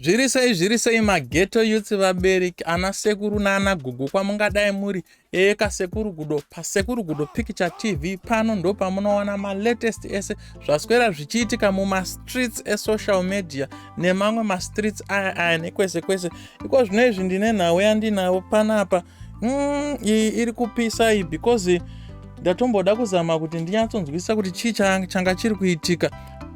zviri sei zviri sei mageto youth vabereki ana sekuru naana gogo kwamungadai muri eka sekuru gudo pasekuru gudo picture tv pano ndo pamunowana malatest ese zvaswera zvichiitika mumastreets esocial media nemamwe mastreets aya aya nekwese kwese iko zvino izvi ndine nhau yandinavo panapa mm, iyi iri kupisa iyi because ndatomboda kuzama kuti ndinyatsonzwisisa kuti chii changa chiri kuitika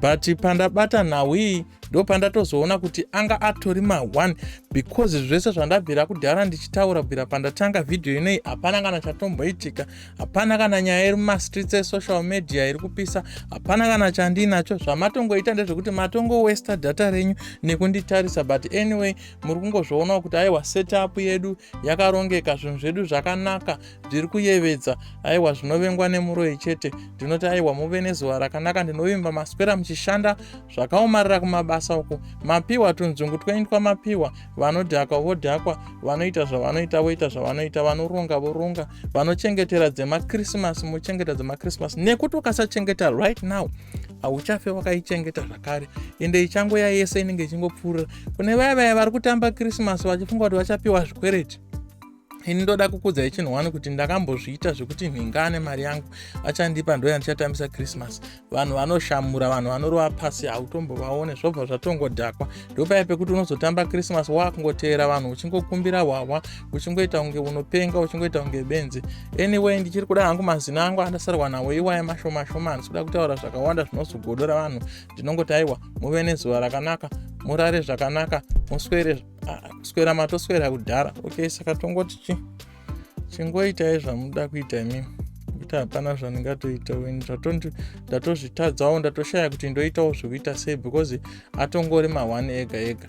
but pandabata nhau iyi ndopandatozoona kuti anga atori ma1 because zvese zvandabvira kudhara ndichitaura bvira pandatanga vhidhiyo inei hapana kana chatomboitika hapana kana nyaya iri mumastreets esocial media iri kupisa hapana kana chandiinacho zvamatongoita ndezvekuti matongowesta data renyu nekunditarisa but anyway muri kungozvionawo kuti aiwa setup yedu yakarongeka zvinhu zvedu zvakanaka zviri kuyevedza aiwa zvinovengwa nemuroyi chete ndinoti aiwa muve nezuva rakanaka ndinovimba maswera muchishanda zvakaomarira kumabasa uku mapiwa tunzungu twaitwa mapiwa vanodhakwa vodhakwa vanoita zvavanoita voita zvavanoita vanoronga voronga vanochengetera dzemakrisimasi mochengeta dzemakrisimasi nekuti ukasachengeta right now hauchafe wakaichengeta zvakare ende ichangoya yese inenge ichingopfuurira kune vaya vaya vari kutamba krisimasi vachifunga kuti vachapiwa zvikwereti ini ndoda kukudza ichinhu wani kuti ndakambozviita zvekuti nhinga ane mari yangu achandipa ndoya ndichatambisa christmas vanhu vanoshamura vanhu vanorova pasi hautombovaone zvobva zvatongodhakwa ndopaye pekuti unozotamba christmas waakungoteera vanhu uchingokumbira hwahwa uchingoita kunge unopenga uchingoita kunge benzi anyway ndichiri kuda hangu mazina angu andasarwa nawo iwaye mashomashoma handisi kuda kutaura zvakawanda zvinozogodora vanhu ndinongoti aiwa muve nezuva rakanaka murare zvakanaka muswere kuswera matoswera kudhara okay saka tongoti chi chingoitai zvamuda kuita imimi kuti hapana zvandingatoita weni ndatozvitadzawo ndatoshaya kuti ndoitawo zvekuita sei because atongori ma1 ega ega